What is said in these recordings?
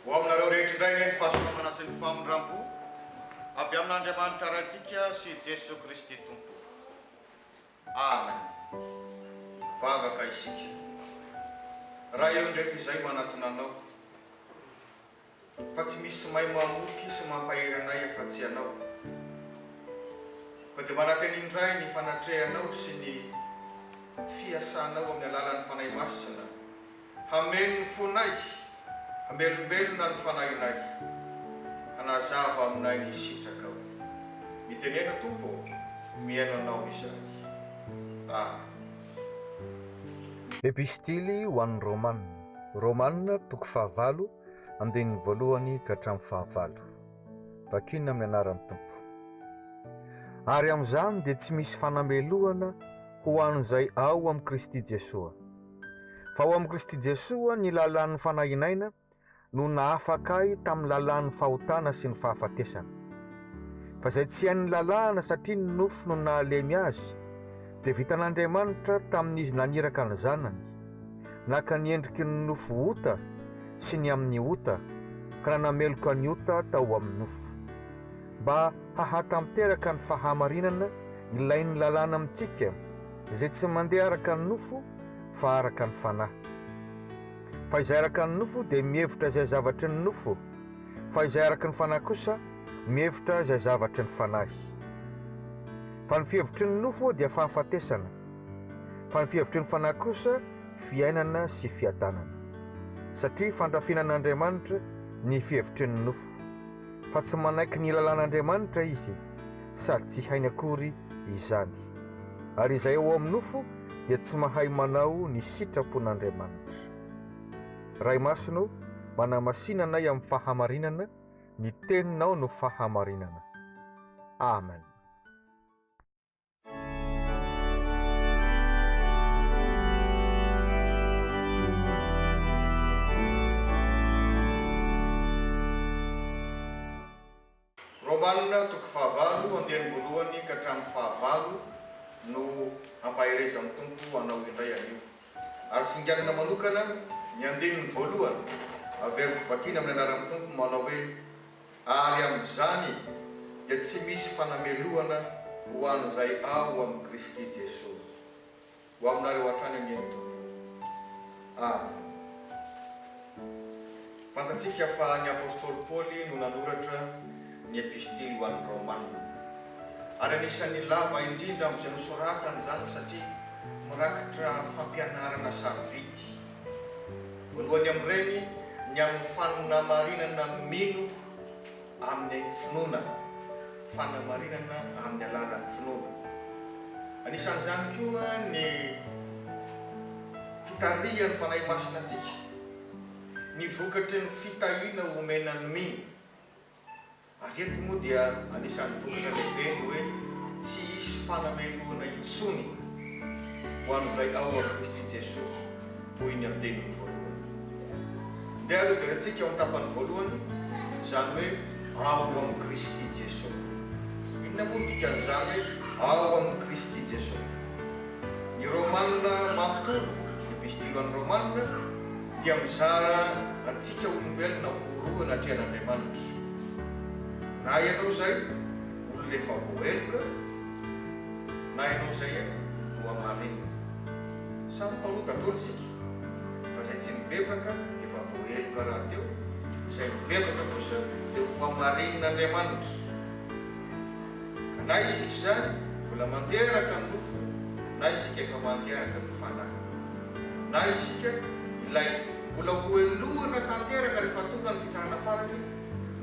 Ho aminareo rehetra indray anie ny fahasalamana sy ny famindrampo avy amin'Andriamanitra Raintsika sy Jesoa Kristy Tompo. Amen! Vavaka isika. Raha eo indray toy izay manatona Anao, fa tsy misy may mamoky sy mampahery anay afa-tsy Ianao. Koa dia manantena indray ny fanatrehanao sy ny fiasanao amin'ny alalan'ny Fanahy Masina Hameno ny fonay, hamelombelona ny fanahinay, hanazava aminay ny sitrakao. Mitenena Tompo ô, mihaino Anao izahay. Amen. Epistily ho an'ny Romana, Romana toko fahavalo, andininy voalohany ka hatramin'ny fahavalo. Vakina amin'ny anaran'ny Tompo. Ary amin'izany dia tsy misy fanamelohana ho an'izay ao amin'i Kristy Jesoa. Fa ao amin'i Kristy Jesoa ny lalàn'ny Fanahy Inaina no nahafaka ahy tamin'ny lalàn'ny fahotana sy ny fahafatesana. Fa izay tsy hain'ny lalàna satria ny nofo no nahalemy azy, dia vitan'Andriamanitra tamin'izy naniraka ny Zanany, naka ny endriky ny nofo ota sy ny amin'ny ota ka nanameloka ny ota tao amin'ny nofo. Mba hahatanteraka ny fahamarinana ilain'ny lalàna amintsika izay tsy mandeha araka ny nofo fa araka ny fanahy. Fa izay araka ny nofo dia mihevitra izay zavatry ny nofo, fa izay araka ny fanahy kosa mihevitra izay zavatry ny fanahy. Fa ny fihevitry ny nofo dia fahafatesana, fa ny fihevitry ny fanahy kosa fiainana sy fiadanana. Satria fandrafiana an'Andriamanitra ny fihevitry ny nofo. fa tsy manaiky ny lalàn'Andriamanitra izy sady tsy hainy akory izany, ary izay ao amin'ny nofo dia tsy mahay manao ny sitrapon'Andriamanitra. Ray Masina ô, manamasina anay amin'ny fahamarinana, ny Teninao no fahamarinana. Amen. Romana toko fahavalo andiany voalohany ka hatramin'ny fahavalo no hampaherezan'ny Tompo anao indray anio. Ary singanina manokana ny andininy voalohany, averiko vakiana amin'ny anaran'ny Tompo manao hoe. Ary amin'izany dia tsy misy fanamelohana ho an'izay ao amin'i Kristy Jesoa. Ho aminareo hatrany anie ny Tompo. Amen. Fantatsika fa ny Apostoly Paoly no nanoratra ny Epistily ho an'ny Romana. Ary anisan'ny lava indrindra amin'izay nosoratany izany satria mirakitra fampianarana sarobidy. Voalohany amin'ireny ny amin'ny fanamarinana ny mino amin'ny finoana, fanamarinana amin'ny alalan'ny finoana. Anisan'izany koa ny fitarihan'ny Fanahy Masina antsika, ny vokatry ny fitahiana omena ny mino. Ary eto moa dia anisan'ny vokatra lehibe ny hoe tsy hisy fanamelohana intsony ho an'izay ao amin'i Kristy Jesoa, hoy ny andininy voalohany. Ndeha aloha jerentsika ao amin'ny tapany voalohany izany hoe ao amin'i Kristy Jesoa. Inona moa no dikan'izany hoe ao amin'i Kristy Jesoa? Ny Romana manontolo, ny Epistily ho an'ny Romana, dia mizara antsika olombelona ho roa anatrehan' Andriamanitra. Na ianao izay olona efa voaheloka, na ianao izay nohamarinina. Samy mpanota daholo isika, fa izay tsy nibebaka efa voaheloka rahateo, izay mibebaka kosa dia hohamarinin'A ndriamanitra. Ka na isika izany mbola mandeha araka ny nofo, na isika efa mandeha araka ny fanahy. Na isika, ilay mbola hohelohina tanteraka rehefa tonga ny fitsarana farany,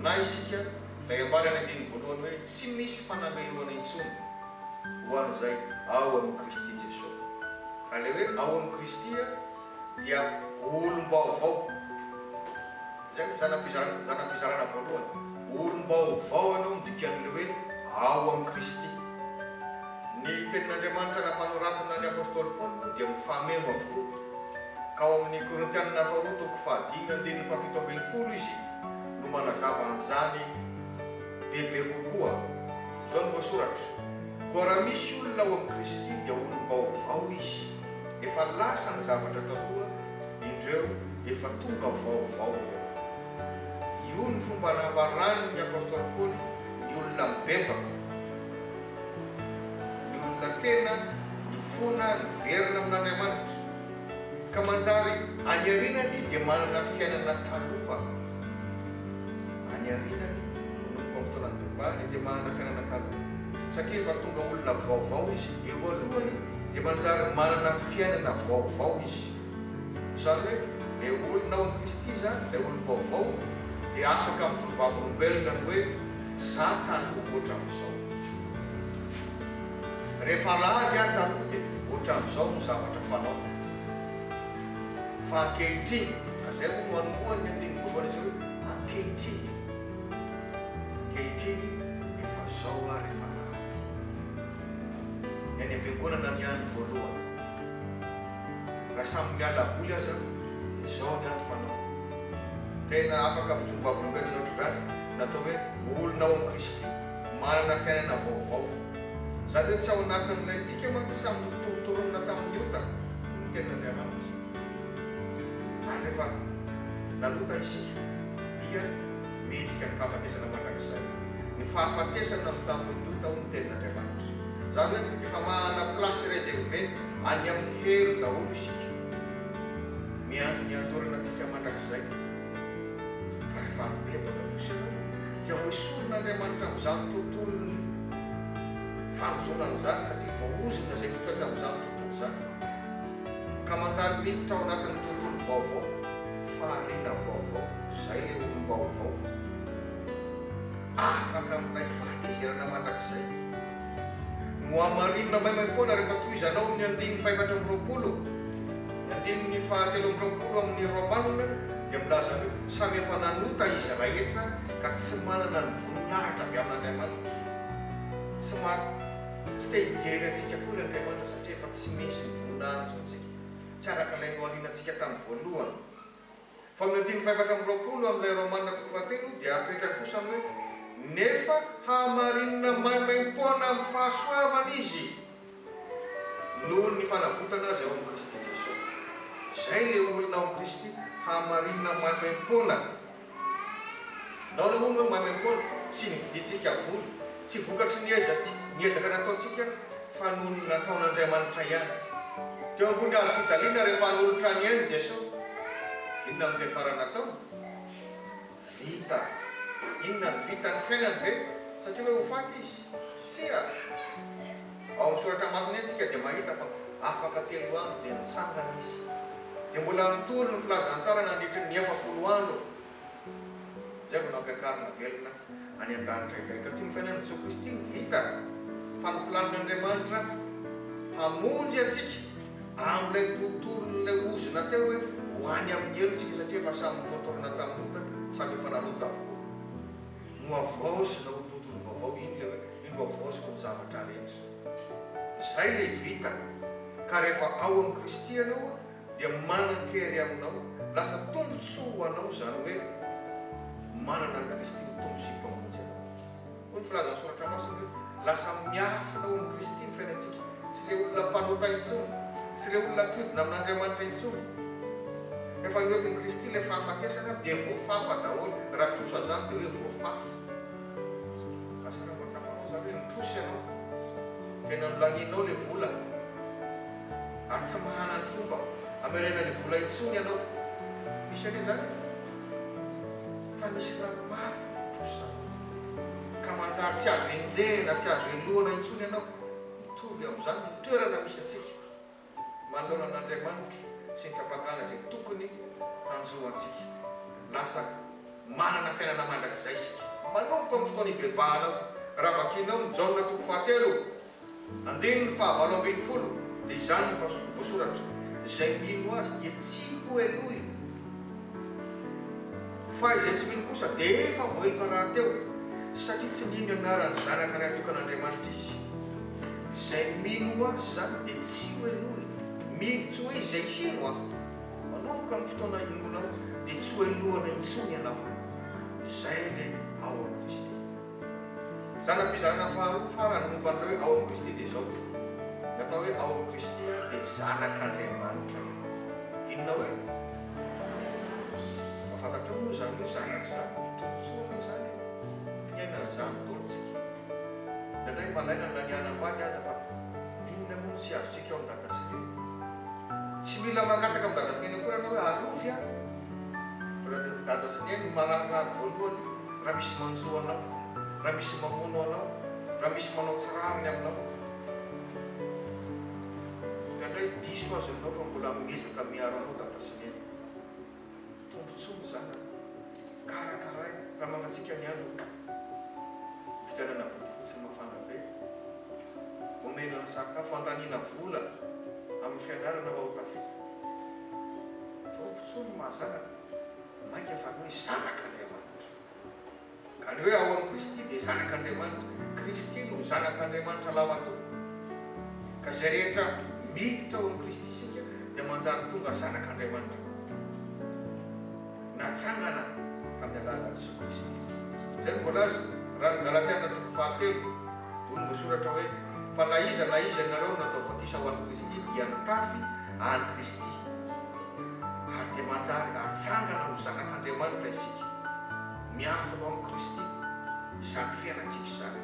na isika, ilay ambara ny andininy voalohany hoe tsy misy fanamelohana intsony ho an'izay ao amin'i Kristy Jesosy. Ka ilay hoe ao amin'i Kristy dia olom-baovao. Izay no zana-pizarana, zana-pizarana voalohany. Olom-baovao anao midika an'ilay hoe ao amin'i Kristy. Ny Tenin'Andriamanitra nampanoratana ny apostoly Paoly moa dia mifameno avokoa. Ka ao amin'ny Korintianina faharoa toko fahadimy andininy fahafito ambin'ny folo izy no manazava an'izany bebe kokoa. Izao no voasoratra, Koa raha misy olona ao amin'i Kristy dia olom-baovao izy. Efa lasa ny zavatra taloha, Indreo efa tonga vaovao ireo. Io no fomba nambaran' ny apostoly Paoly ny olona mibebaka, ny olona tena nifona niverina amin' Andriamanitra, ka manjary any arinany dia manana fiainana taloha. Any arinany, manomboka amin' ny fotoana nibebahany, dia manana fiainana taloha, satria efa tonga olona vaovao izy. Eo alohany dia manjary manana fiainana vaovao izy. Izany hoe, ilay olona ao amin'i Kristy izany, ilay olom-baovao, dia afaka mijoro vavolombelona ny hoe, Za taloha ohatran'izao. Rehefa lany aho taloha dia ohatran'izao ny zavatra fanaoko. Fa ankehitriny, ary izay moa no anombohan'ny andininy voalohany izay hoe, ankehitriny. Ankehitriny, efa izao ary efa lany. Ny any am-piangonana ny any voalohany. Na samy miala voly aza izao ny andro fanao. Tena afaka mijoro vavolombelona ohatr'izany ny atao hoe olona ao amin'i Kristy, manana fiainana vaovao. Izany hoe tsy ao anatin'ilay antsika mantsy samy notorontoronina tamin'ny ota ny tenin'Andriamanitra. Ary rehefa nanota isika dia. Midika ny fahafatesana mandrakizay. Ny fahafatesana amin'ny tampondoha ao ny tenin'Andriamanitra. Izany hoe efa manana place reservée any amin'ny helo daholo isika. Miandry ny andorana antsika mandrakizay. Fa rehefa mibebaka kosa ianao dia hoesorin'Andriamanitra amin'izany tontolon'ny fanozonana izany satria voaozona izay mitoetra amin'izany tontolo izany ka manjary miditra ao anatin'ny tontolo vaovao. Fahariana vaovao, izay ilay olom-baovao afaka amin'ilay fahatezerana mandrakizay. Nohamarinina maimaim-poana rehefa tohizanao amin'ny andininy fahefatra amby roapolo, ny andininy fahatelo amby roapolo amin'ny Romana dia milaza hoe, Samy efa nanota izy rahetra ka tsy manana ny voninahitra avy amin'Andriamanitra. Tsy ma, tsy te hijery antsika akory Andriamanitra satria efa tsy misy ny voninahitry antsika. Tsy araka ilay noharianantsika tamin'ny voalohany. Faminanian'ny fahefatra amby roapolo amin'ilay Romana toko fahatelo dia apetrany kosa ny hoe, Nefa hamarinina maimaim-poana amin'ny fahasoavana izy noho ny fanavotana azy ao amin'i Kristy Jesoa. Izay ilay olona ao amin'i Kristy, hamarinina maimaim-poana. Nahoana hono hoe mamy am-poana? Tsy novidintsika vola, tsy vokatry ny ezantsy, ny ezaka nataontsika, fa noho ny nataon'Andriamanitra ihany. Teo ambony hazo fijaliana rehefa hanolotra ny ainy Jesoa. Inona no teny farany nataony? Vita. Inona no vitany? Ny fiainany ve? Satria hoe ho faty Izy? Tsia. Ao amin'ny Soratra Masina isika dia mahita fa afaka telo andro dia nitsangana Izy. Dia mbola nitory ny Filazantsara nandritry ny efapolo andro, izay vao nampiakarina velona any an-danitra indray. Ka tsy ny fiainan'i Jesoa Kristy no vita, fa ny planin'Andriamanitra hamonjy antsika amin'ilay tontolon'ilay ozona teo hoe ho any amin'ny helo isika, satria efa samy notorina tamin'ny ota sady efa nanota avokoa. Nohavaozina ho tontolo vaovao iny ilay hoe Indro avoaziko ny zavatra rehetra. Izay ilay vita. Ka rehefa ao amin'i Kristy ianao dia manan-kery aminao, lasa tombon-tsoa ho anao, izany hoe manana an'i Kristy ho Tompo sy Mpamonjy anao. Hoy ny filazan'ny Soratra Masina hoe lasa miafina ao amin'i Kristy ny fiainantsika. Tsy ilay olona mpanota intsony, tsy ilay olona mpiodina amin'Andriamanitra intsony. Efa niotin'i Kristy ilay fahafatesana dia voafafa daholo, raha trosa izany dia hoe voafafa. Fa sara mba tsapanao zany hoe mitrosa ianao, tena nolanianao le vola ary tsy mahana ny fomba hamerena le vola intsony ianao. Misy anie zany e! Fa misy raha maro mitrosa ka manjary tsy azo enjehina, tsy azo helohana intsony ianao. Mitovy amin'izany ny toerana misy antsika. Manoloana an'Andriamanitra sy ny fampangana izay tokony hanjo antsika, lasa manana fiainana mandrakizay isika. Manomboka amin'ny fotoana ibebahanao. Raha vakinao ny Jaona toko fahatelo, andininy fahavalo ambin'ny folo, dia izany no voasoratra, Izay mino Azy dia tsy hohelohina. Fa izay tsy mino kosa dia efa voaheloka rahateo, satria tsy mino ny anaran'ny Zanaka Ray Tokan'Andriamanitra izy. Izay mino ho Azy izany dia tsy hohenoiny. Mino, tsy hoe izay hino Aho. Manomboka amin'ny fotoana hinoanao dia tsy hohenoana intsony ianao. Izay ilay ao amin'i Kristy. Zana-pizarana faharoa farany momba an'ireo ao amin'i Kristy dia izao, Ny atao hoe ao amin'i Kristy dia zanak'Andriamanitra. Inona hoe? Mba fantatrao moa izany hoe zanak' izany tombontsoa ve izany io? Fiainana izany daholo isika. Indraindray mba lainany na ny hanambady aza fa inona moa no tsy azontsika ao amin'i Dada sy Neny? Tsy mila mangataka amin'i Dada sy Neny akory ianao hoe arovy aho. Raha tian'i Dada sy Neny ny mararirary voalohany, raha misy manjo anao, raha misy mamono anao, raha misy manao tsy rariny aminao, ka ndray diso azy ianao fa mbola miezaka miaro anao Dada sy Neny. Tombontsoa ny zanaka, karakaraina raha mangatsiaka ny andro aloha. Vidianana bodofotsy mafana be, omena ny sakafo, andaniana vola amin'ny fianarana mba ho tafita. Tompontsony no maha zanaka, mainka fa ny hoe zanak'Andriamanitra. Ka ny hoe ao amin'i Kristy dia zanak'Andriamanitra. Kristy no zanak'Andriamanitra lahimatoa. Ka izay rehetra miditra ao amin'i Kristy isika dia manjary tonga zanak'Andriamanitra koa. Natsangana tamin'ny alalan'i Jesoa Kristy. Izay no voalaza raha ny Galatiana toko fahatelo. Hoy ny voasoratra hoe, Fa na iza na iza aminareo no natao batisa ho an'i Kristy dia nitafy an'i Kristy. Ary dia manjary atsangana ho zanak'Andriamanitra isika. Miafina ao amin'i Kristy izany fiainantsika izany.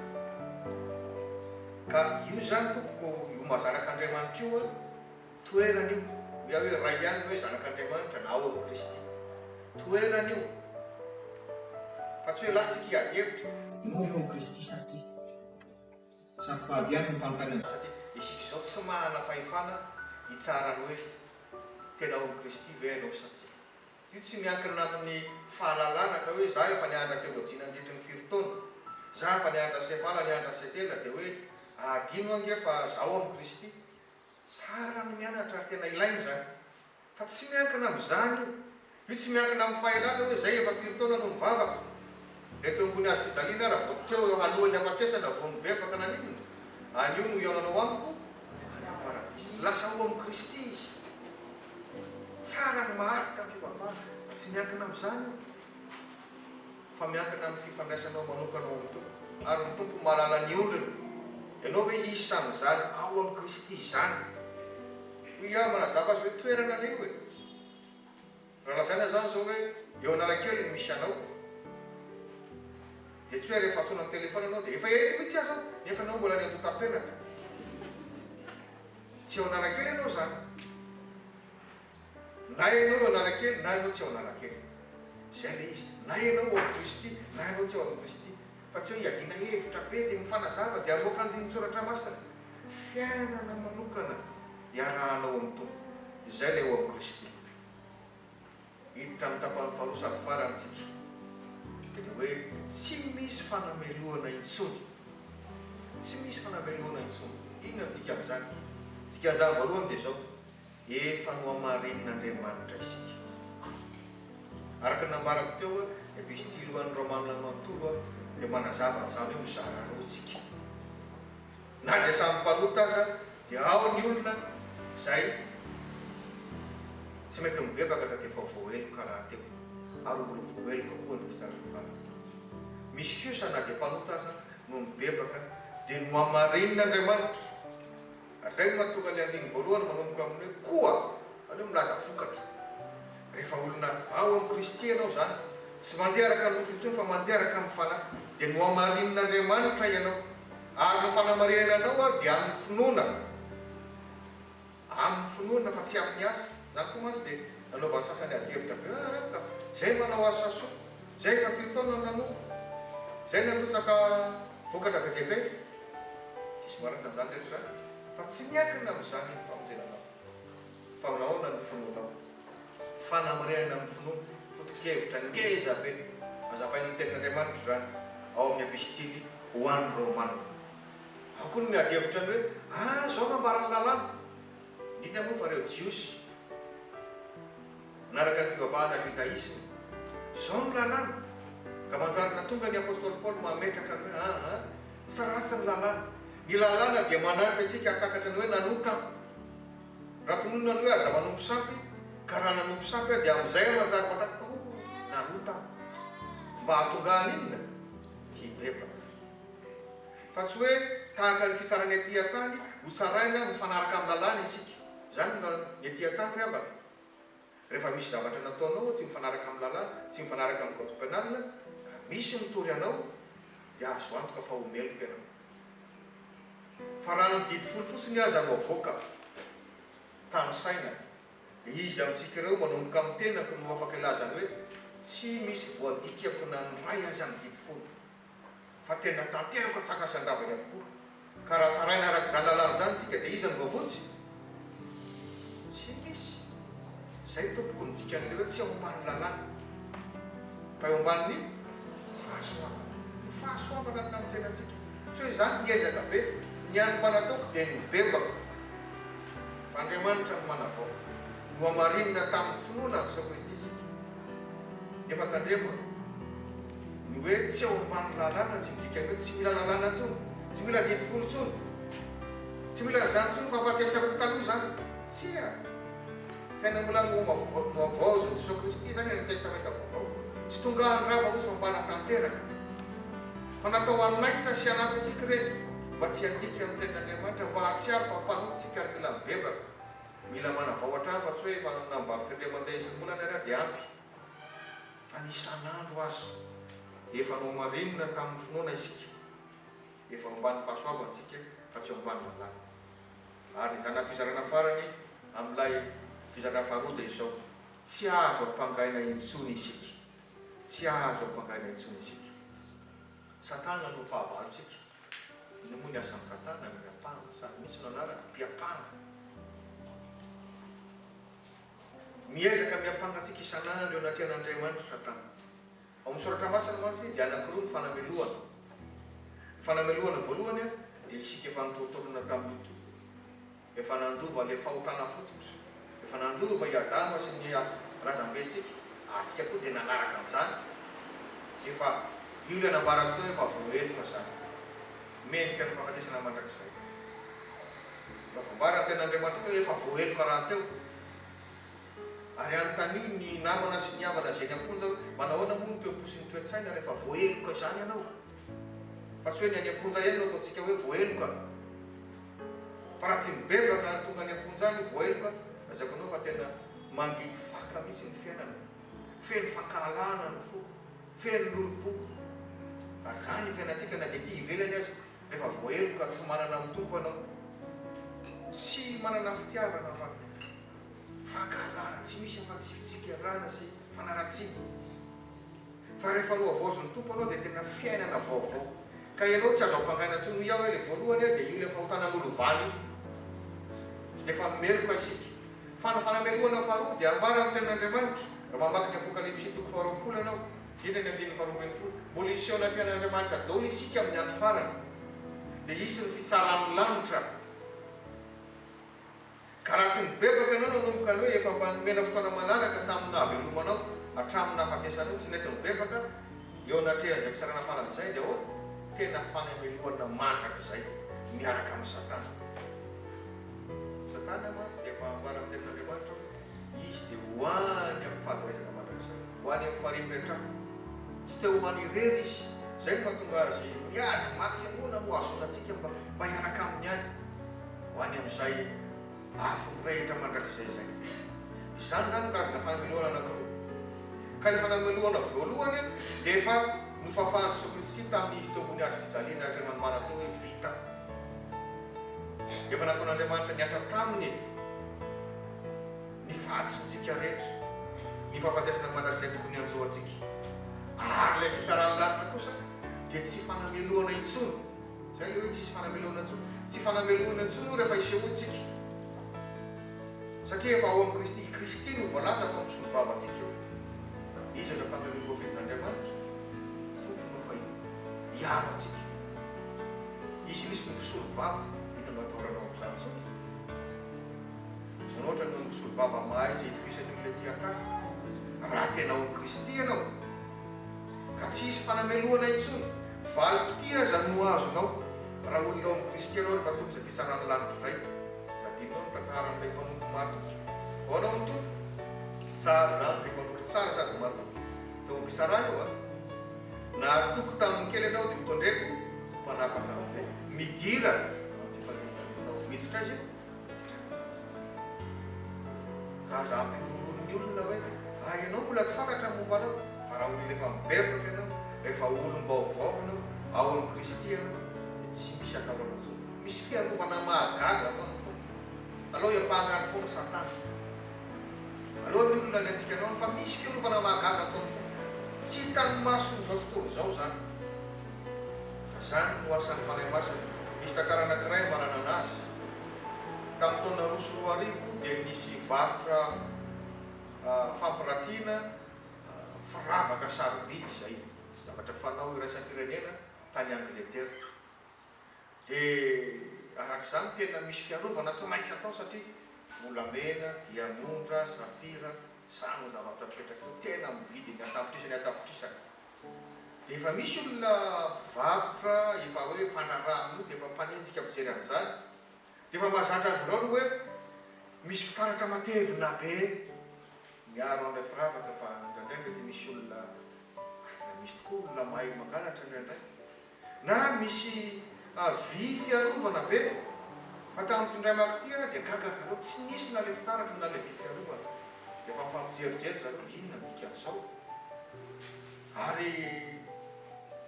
Ka io izany, tompoko, io maha zanak'Andriamanitra io aho. Toerana io, hoy aho hoe, Ray ihany ny hoe Zanak'Andriamanitra na ao amin'i Kristy. Toerana io, fa tsy hoe lasa isika hiady hevitra. Ianao ve ao amin'i Kristy sa tsia? Saropady ihany ny fanontaniana. Satria isika izao tsy manana fahefana hitsara ny hoe tena ao amin'i Kristy ve ianao sa tsia. Io tsy miankina amin'ny fahalalana ka hoe za efa niandra teoloji nandritry ny firy taona, za efa niandra sevala niandra setela dia hoe adino ange fa za ao amin'i Kristy. Tsara ny mianatra ary tena ilaina izany. Fa tsy miankina amin'izany io. Io tsy miankina amin'ny fahaelana hoe izay efa firy taona no nivavaka. Ilay teo ambony hazo fijaliana ara vao teo eo alohan'ny hafatesana vao nibebaka naninona? Anio no hihaonanao amiko any amin'ny paradisa. Lasa ao amin'i Kristy izy. Tsara ny maharitra ny fivavahana. Fa tsy miankina amin'izany io. fa miankina amin'ny fifandraisanao manokana ao amin'ny Tompo, ary ny Tompo mahalala ny ondriny. Ianao ve isan'izany ao amin'i Kristy izany? Hoy aho, manazava azy hoe toerana anie io e! Raha lazaina izany izao hoe eo Analakely no misy anao, dia tsy hoe rehefa antsoina an-telefaona ianao dia efa eto mihitsy aza aho, nefa ianao mbola any antontam-penaka. Tsy eo Analakely ianao izany. Na ianao eo Analakely na ianao tsy eo Analakely. Izay ilay izy. Na ianao ao Kristy na ianao tsy eo ao Kristy. Fa tsy hoe iadiana hevitra be dia mifanazava dia hamoaka andinin-tsoratra masina. Fiainana manokana iarahanao amin'ny Tompo. Izay ilay eo amin'i Kristy. Hiditra amin'ny tapany faharoa sady farany isika. Dia ilay hoe tsy misy fanamelohana intsony. Tsy misy fanamelohana intsony. Inona no dikan'izany? Dikan'izany voalohany dia izao. Efa nohamarinin'Andriamanitra isika. Araka ny nambarako teo, ny Epistily ho an'ny Romanina manontolo dia manazava an'izany hoe mizara roa isika. Na dia samy mpanota aza, dia ao ny olona izay tsy mety mibebaka na dia efa voaheloka rahateo, ary ho mbola voaheloka koa ny mpitsara ny valiny. Misy kosa na dia mpanota aza no nibebaka, dia nohamarinin'Andriamanitra. Ary izay no mahatonga ilay andininy voalohany manomboka amin'ny hoe koa, izany hoe milaza vokatra. Rehefa olona ao amin'i Kristy ianao izany, tsy mandeha araka ny nofo intsony fa mandeha araka amin'ny Fanahy, dia nohamarinin'Andriamanitra ianao. Ary ny fanamarihana anao aho dia amin'ny finoana, amin'ny finoana fa tsy amin'ny asa. Izany koa mantsy dia nanaovan'ny sasany adihevitra be, Aa ka! Izay manao asa soa. Izay efa firy taona no nanompo? Izay natrotsaka vokatra be dia be? Diso marina izany rehetra izany, fa tsy miankina amin'izany ny famonjenanao, fa amin'ahoana ny finoanao. Fanamarihana amin'ny finoana, foto-kevitra ngeza be nazavain'ny Tenin'Andriamanitra izany ao amin'ny Epistily ho an'ny Romana. Ao koa no miady hevitra ny hoe, Ah, izao no ambaran'ny Lalàna! indrindra moa fa ireo Jiosy. Nanaraka ny fivavahana Jodaisma. Izao no lalàna. Ka manjary nahatonga ny Apostoly Paoly mametraka ny hoe, Aa, tsy ratsy ny lalàna. Ny lalàna dia manampy antsika hahatakatra ny hoe nanompo aho. Raha tononina ny hoe aza manompo sampy, ka raha nanompo sampy aho dia amin'izay aho manjary mahatakatra hoe, oh, nanota aho. Mba hahatonga ahy haninona? Hibebaka. Fa tsy hoe tahaka ny fitsarana ety an-tany, hotsaraina mifanaraka amin'ny lalàna isika. Izany no lalàna. Ny ety an-tany ry havana, Rehefa misy zavatra nataonao tsy mifanaraka amin'ny lalàna, tsy mifanaraka amin'ny code penal, ka misy mitory anao, dia azo antoka fa ho meloka ianao. Fa raha ny didy folo fotsiny aza no avoaka, tanisaina, dia iza amintsika ireo manomboka amin'ny tenako no afaka ilazany hoe tsy misy voadikako na ny iray aza ny didy folo? fa tena tanteraka antsakasy andavany avokoa. Ka raha tsaraina araka izany lalàna izany tsika dia iza no voavotsy? Tsy misy. Izay tompoko no dikan'ilay hoe tsy ao ambanin'ny lalàna fa eo ambanin'ny fahasoavana. Ny fahasoavana no nanantsena antsika. Tsy hoe izaho niezaka be. Ny an'ny mba nataoko dia ny bebako. Fa Andriamanitra no manavao. Nohamarinina tamin'ny finoana an'i Jesoa Kristy isika. Nefa tandremo a! Ny hoe tsy eo ambanin'ny lalàna tsy midika ny hoe tsy mila lalàna intsony, tsy mila didy folo intsony, tsy mila an'izany intsony fa afatesana koa taloha izany. Tsia! Tena mbola nohavaozon'i Jesoa Kristy izany any amin'ny Testamenta Vaovao. Tsy tonga handrava hoy fa mba hanatanteraka. Fa natao hanaitra sy hanampy antsika ireny mba tsy hiadiantsika amin'ny Tenin'Andriamanitra, mba hahatsiaro fa mpanompon-tsika ary mila mibebaka. Mila manavao hatrany fa tsy hoe efa hanana mivady chrétien mandeha isam-bolana ary aho dia ampy fa ny isan'andro aza efa nohamarinina tamin'ny finoana isika efa ao ambanin'ny fahasoavantsika fa tsy ao ambanin'ny lalàna ary ny zana-pizarana farany amin'ilay fizarana faharoa dia izao tsy azo ampangaina intsony isika tsy azo ampangaina intsony isika satana no fahavalontsika Inona moa ny asan'i Satana? Miampanga. Samy misy no anarany, mpiampanga. Miezaka miampanga antsika isan'andro eo anatrehan'Andriamanitra Satana. Ao amin'ny Soratra Masina mantsy dia anankiroa ny fanamelohana. Ny fanamelohana voalohany dia isika efa nitolotolona tamin'ity. Efa nandova ilay fahotana fototra. Efa nandova i Adama sy ny razambentsika, ary tsika koa dia nanaraka an'izany. Efa io ilay nambarako teo efa voaheloka izany. Mendrika ny fahafatesana mandrakizay. Efa voambara ny tenin'Andriamanitra teo, efa voaheloka rahateo. Ary anontanio ny namana sy ny havana izay eny am-ponja hoe, manahoana moa no toe-po sy ny toe-tsaina rehefa voaheloka izany ianao? Fa tsy hoe ny any am-ponja ihany no ataontsika hoe voaheloka. Fa raha tsy mibebaka ary tonga any am-ponja any voaheloka dia aza kinao fa tena mangidy faka mihitsy ny fiainana. Feno fankahalana ny foko, feno lolom-poko. Ary izany ny fiainantsika na dia ety ivelany aza, rehefa voaheloka tsy manana ny tompo ianao. Tsy manana fitiavana manko. Fankahalana tsy misy afa-tsy fitsikerana sy fanaratsiana. Fa rehefa nohavaozin'ny Tompo anao dia tena fiainana vaovao. Ka ianao tsy azo ampangaina intsony, hoy aho hoe ilay voalohany ary dia io ilay fahotanan'olo valo io. Dia efa meloka isika. Fa ny fanamelohana faharoa dia ambara amin'ny tenin'Andriamanitra, raha mamaky ny Apokalypsy toko faharoapolo ianao, indrindra ny andininy faharoa ambin'ny folo, mbola hiseho anatrehan'Andriamanitra daholo isika amin'ny andro farany. Dia hisy ny fitsaran'ny lanitra. Ka raha tsy nibebaka ianao nanomboka ny hoe efa mba nomena fotoana malalaka tamin'ny nahavelomanao hatramin'ny nahafatesanao, tsy nety nibebaka eo anatrehan'izay fitsarana farany izay, dia ahoana? Tena fanemelohana mandrakizay miaraka amin'i Satana. Satana mantsy dia efa ambara amin'ny Tenin'Andriamanitra hoe izy dia ho any amin'ny fahaverezana mandrakizay, ho any amin'ny farihy miretrafo. Tsy te ho any irery izy. Izay no mahatonga azy miady mafy, ahoana no hahazoana antsika mba hiaraka aminy any? ho any amin'izay afo mirehitra mandrakizay izay. Izany izany no karazana fanamelohana anankiroa. Ka ny fanamelohana voalohany dia efa nofafan'i Jesoa Kristy tamin'Izy teo ambony hazo fijaliany araka ny nanambara teo hoe vita. Efa nataon'Andriamanitra nihatra Taminy ny fahadisoantsika rehetra, ny fahafatesana mandrakizay tokony hanjo antsika. Ary ilay fitsaran'ny lanitra kosa dia tsy fanamelohana intsony. Izay ilay hoe tsisy fanamelohana intsony. Tsy fanamelohana intsony io rehefa isehoantsika, satria efa ao amin'i Kristy. I Kristy no voalaza fa misolo vava antsika eo. Izy ilay mpandamina voavidin'Andriamanitra, Tompo no efa hiaro antsika. Izy mihitsy no mpisolo vava. Inona no ataoranao amin'izany sao izany ohatra no misolo vava mahay izay itokisany olona tia an-kafa? Raha tena ao amin'i Kristy ianao, Ka tsy hisy fanamelohana intsony. Valim-pitia aza no ho azonao raha olona ao amin'ny Kristy ianao rehefa tonga izay fitsarana lalitra izay. Tadidinao ny tantaran'ilay mpanompo matoky. Vao hanao ny Tompo tsara izany dia mpanompo tsara sady matoky teo am-pitsarana io an! Nahatoky tamin'ny kely ianao dia hotondreko ho mpanapaka amin'izay. Midira amin'izay fanehoana anao. Miditra aiza io? Aza ampihorohoro ny olona hoe ah ianao mbola tsy fantatra ny momba anao fa raha olona efa mibevoka ianao, rehefa olom-baovao ianao ao amin'i Kristy ianao dia tsy misy atahorana intsony. Misy fiarovana mahagaga ataon'ny Tompo. Alao iapahana any foana Satana. Alao ny olona ny antsika anao any fa misy fiarovana mahagaga ataon'ny Tompo. Tsy hitan'ny maso izao tontolo izao izany. Fa izany no asan'ny Fanahy Masina. Misy tantara anankiray mananana azy. Tamin'ny taona roa sy roa arivo dia nisy varotra fampiratiana firavaka sarobidy izay zavatra fanao iraisampirenena tany Angletera. Dia araka izany tena misy fiarovana tsy maintsy atao satria volamena, diamondra, safira, samy zavatra mipetraka eo tena amin'ny vidiny an-tapitrisany an-tapitrisany. Dia efa misy olona mpivarotra efa hoe mpandraharaha amin'io dia efa mpanenjika mijery an'izany. Dia efa mahazatra azy ireo ny hoe misy fitaratra matevina be miaro an'ilay firavaka fa indraindray mety misy olona ary tena misy tokoa olona mahay mangalatra indraindray. Na misy vy fiarovana be, fa tamin'ity indray maka ity ary dia gaga ry zareo, tsy nisy na ilay fitaratra na ilay vy fiarovana. Dia efa mifampijerijery ry zareo hoe inona ny dikan'izao? Ary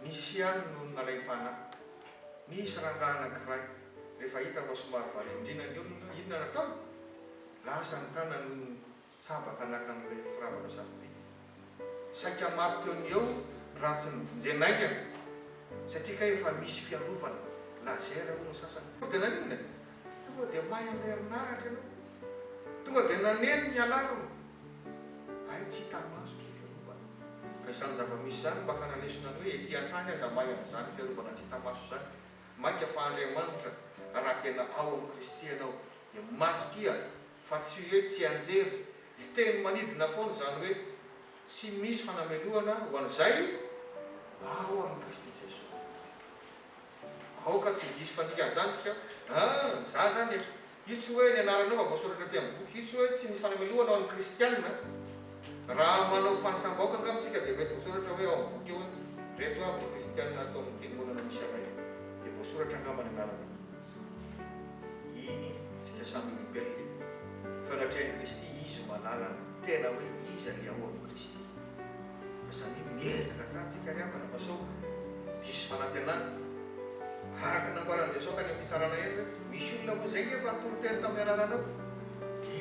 nisy ihany no nalaim-panahy. Nisy rangahy anankiray, rehefa hita fa somary variandriana ny olona, inona no ataony? Lasa ny tanany Tsaba ka naka an'ilay firavana sarobidy. Saika maty teo ny eo raha tsy nivonjena aingana. Satria kay efa misy fiarovana laser hono ny sasany. Tonga dia naninona e? Tonga dia may amin'ny herinaratra ianao. Tonga dia naneno ny alarme. Hay tsy hita maso ity fiarovana. Ka izany zava-misy izany mba ka nanesina ny hoe ety an-tany aza may amin'izany fiarovana tsy hita maso izany. Mainka fa Andriamanitra raha tena ao amin'i Kristy ianao dia matokia Fa tsy hoe tsianjery, tsy teny manidina foana izany hoe tsy misy fanamelohana ho an'izay ao amin'i Kristy Jesoa. Aoka tsy ho diso fandikana izany isika, Aa! za izany e! Io tsy hoe ny anaranao efa voasoratra aty amin'ny boky, io tsy hoe tsy misy fanamelohana ho an'ny kristiana. Raha manao fanisam-bahoaka angamba isika dia mety voasoratra hoe ao amin'ny boky ao hoe, ireto avy ny kristiana ato amin'ny fiangonana misy anay, dia voasoratra angamba ny anarana. Eny, isika samy olombelona e! Fa raha trea Kristy izy manala ny tena hoe iza ny ao am Kristy. Ka samia miezaka tsara tsika ry havana fa sao diso fanantenana. Araka ny nambaran'i Jesoa tany am fitsarana eny hoe misy olona ho zay nge efa nitory teny tamin'ny anaranao,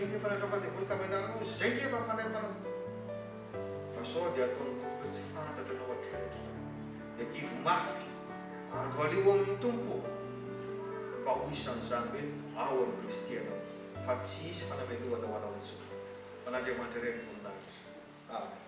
eny efa nandrava devoly tamin'ny anaranao, zay nge efa mpanay fanazavana. Fa sao dia ataon'ny Tompo hoe tsy fantatra ianao hatreto zany. Dia diovy mafy andro aleo ao amin'ny Tompo ô, mba ho isan'izany hoe ao amin'i Kristy ianao, fa tsy hisy fanamelohana ho anao intsony. Ho an'Andriamanitra irery ny voninahitra. Amena.